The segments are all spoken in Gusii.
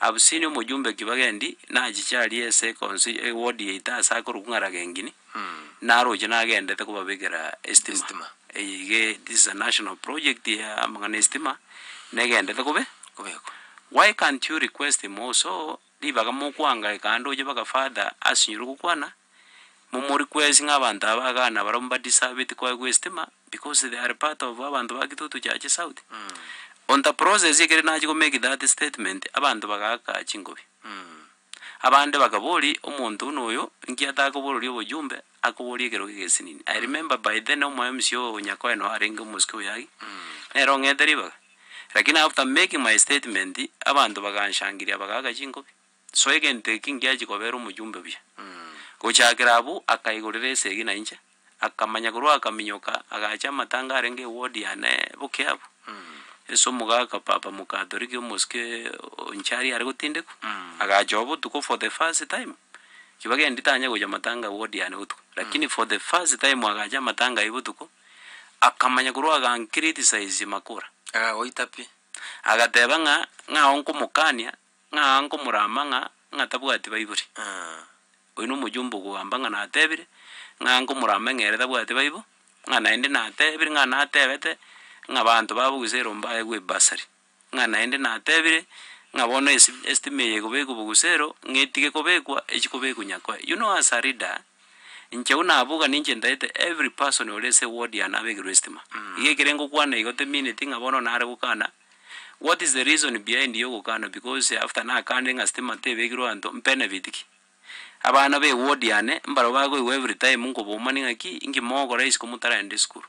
Abusini omojumbe kibagendi nachiche aria ase consi eward yaito ase akorokwa ng'a Ragengini, naroche nagendete kobabekera estima. Estima. Eye iga e this is a national project ya amang'ana estima, negendete kobe Kobekwa. why can't you request him also ribaga mokoangaika ande oche mpaka father asinyore gokwana. Momori kwesi ng'a abanto aba Ghana barabwo ba deserved koegwa estima because they are part of abanto ba Kitutu Chache South. On the process ekero nachia go make that statement abanto bagaaka chingobi. Abande bakabori omonto buna oyo nki atakobororia obojumbe akoborie ekerogo egesinini. I remember by then omo MC o Nyakoe noo arenge omosike oyagi nere ong'ete ribaga lakini after making my statement abanto baganshangiria bagaaka chingobi. Soa egento eke ngiachie kobeera omojumbe buya. Gochakera abwo akaigorera esegi na inche, akamanya korwa akaminyoka agacha amatanga arenge eward yane boke abwo, ase omogaka papa mokatoliki omosike o Nchari are gotindekwa, agacha oo botuko for the first time, ki bagendi tanya gocha matanga ward yane botuko, lakini for the first time agacha amatanga ayio botuko, akamanya korwa agankiritisize makura, Akagoita pi? agateba ng'a ng'ao nkomokania. ng'a nkomorama ng'a ng'a tabwati baibori. Oyio na omojumbe ogoamba ng'a natebire, ng'a nkomorama ng'a ere tabwati baibo, ng'a naende natebire ng'a natebete ng'a abanto babo gose erombe aegwe ebasari. Ng'a naende natebire ng'a bono esi estima eye egobekwa bogusero ng'a etige kobekwa echi kobekwa nyakoe. You know as a leader, inche buna abwo iga ninche ntaete every person ore ase eward yane abekerwe estima. Iga ekere ngokwana igo temineti ng'a bono nare gokana. What is the reason behind you ogokana because after nakande ng'a stima tebegirwe anto mbenefit ki? Abana be ward yane mbarabwo bakoigwa every time nkobomani ng'a ki inki mogokora isiko motaraenda esukuru.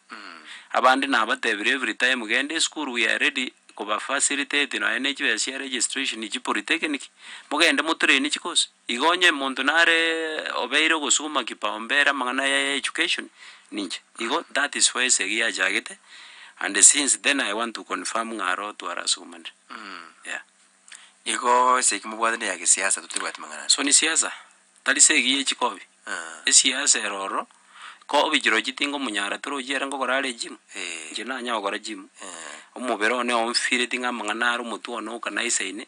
Abande nabatebirie every time genda esukuru we are ready koba facilitate nonya ne chibesa chia registration chi polytechnic mogende motrain chi course. Igo onye monto nare obeire ogosuguma kipao mbere amang'ana aya ya education ninche. Igo that is why esegi yachagete and since then I want to confirm ng'a aro twarasugumanire. Yeah. Igo esegi mobwate ne ya gesiasa totoibwati mang'ana ande. So ni siasa, tari segi ye chikobi. Aah. Esiasa ero ororo, kobi chirochio tingomonyara toro ochiere ngokora are gym. Eeh. Inche nanya gokora gym. Eeh. Omobere one omfeelinge amang'ana are omotwe one okanaisaine.